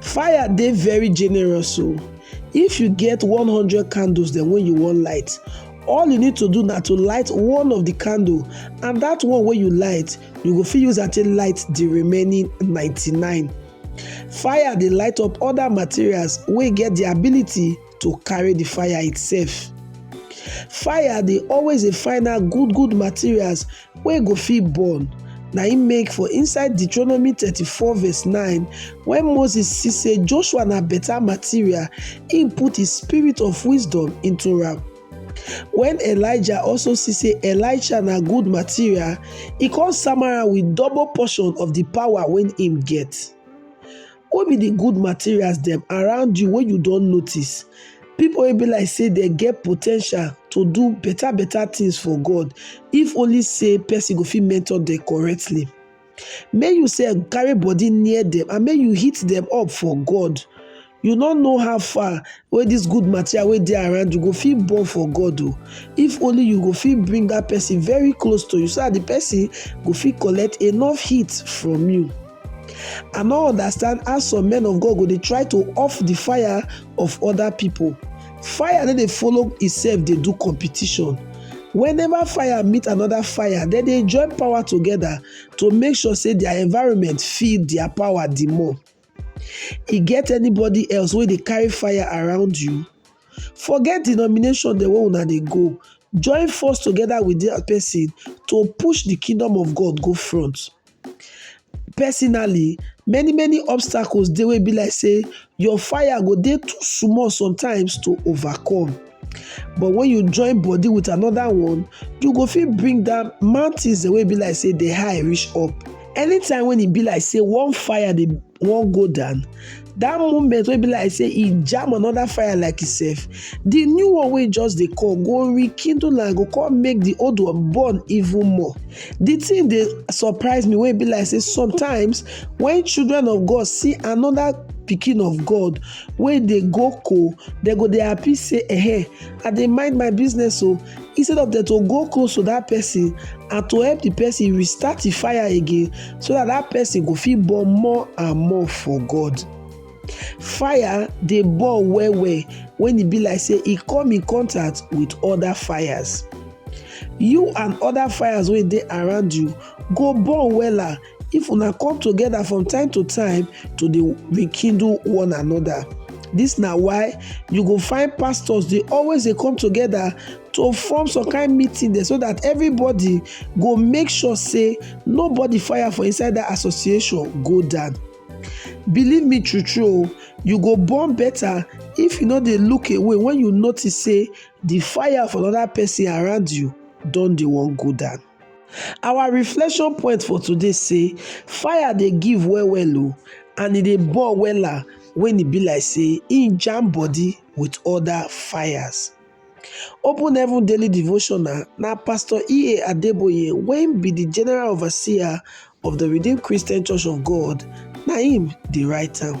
Fire dey very generous o. If you get one hundred candles dem wey you wan light, all you need to do na to light one of the candle and that one wey you light, you go fit use am take light the remaining ninety-nine. Fire dey light up other materials wey get the ability to carry the fire itself fire dey always dey find out good good materials wey go fit burn na im make for inside deuteronomy thirty-four verse nine when moses see say joshua na better material im put his spirit of wisdom into am when elijah also see say elisha na good material e come sama am with double portion of the power wey im get What be the good materials them around you when you don't notice? People will be like say they get potential to do better better things for God if only say person go fit mentor them correctly. May you say carry body near them and may you hit them up for God. You not know how far where this good material where they around you go feel born for God though. If only you go feel bring that person very close to you so that the person go feel collect enough heat from you. I no understand how some men of God go dey try to off the fire of other people. Fire no dey follow itself dey do competition. Whenever fire meet another fire, dem dey join power together to make sure say their environment feel their power the more. E get anybody else wey dey carry fire around you? Forget denomination dem wey una dey go, join force together with that person to push the kingdom of God go front. Personally many many obstacles dey wey be like sey your fire go dey too small sometimes to overcome but wen you join body with another one you go fit bring down mountains dem wey be like sey dey high reach up anytime wey e be like sey one fire dey wan go down that moment wey be like say e jam another fire like itself the new one wey just dey come go rekindle am go come make the old one burn even more the thing dey surprise me wey be like say sometimes when children of god see another pikin of god wey dey go cool dem go dey happy say ehe i dey mind my business o instead of dem to go close to that person and to help the person restart the fire again so that that person go fit burn more and more for god fire dey burn well well when e be like say e come in contact with other fires you and other fires wey dey around you go burn wella if una come together from time to time to dey rekindle one another this na why you go find pastors dey always dey come together to form some kind meeting there so that everybody go make sure say nobody fire for inside that association go down believe me true true oh, you go born better if you no dey look away when you notice say the fire for another person around you don dey wan go down Our reflection point for today say fire dey give well well o and e dey burn wella when e be like say e jam body with other fires. Open Heaven Daily Devotional na Pastor E.A. Adeboye wey be the General Overseer of the Redeemed Christian Church of God na him dey write am.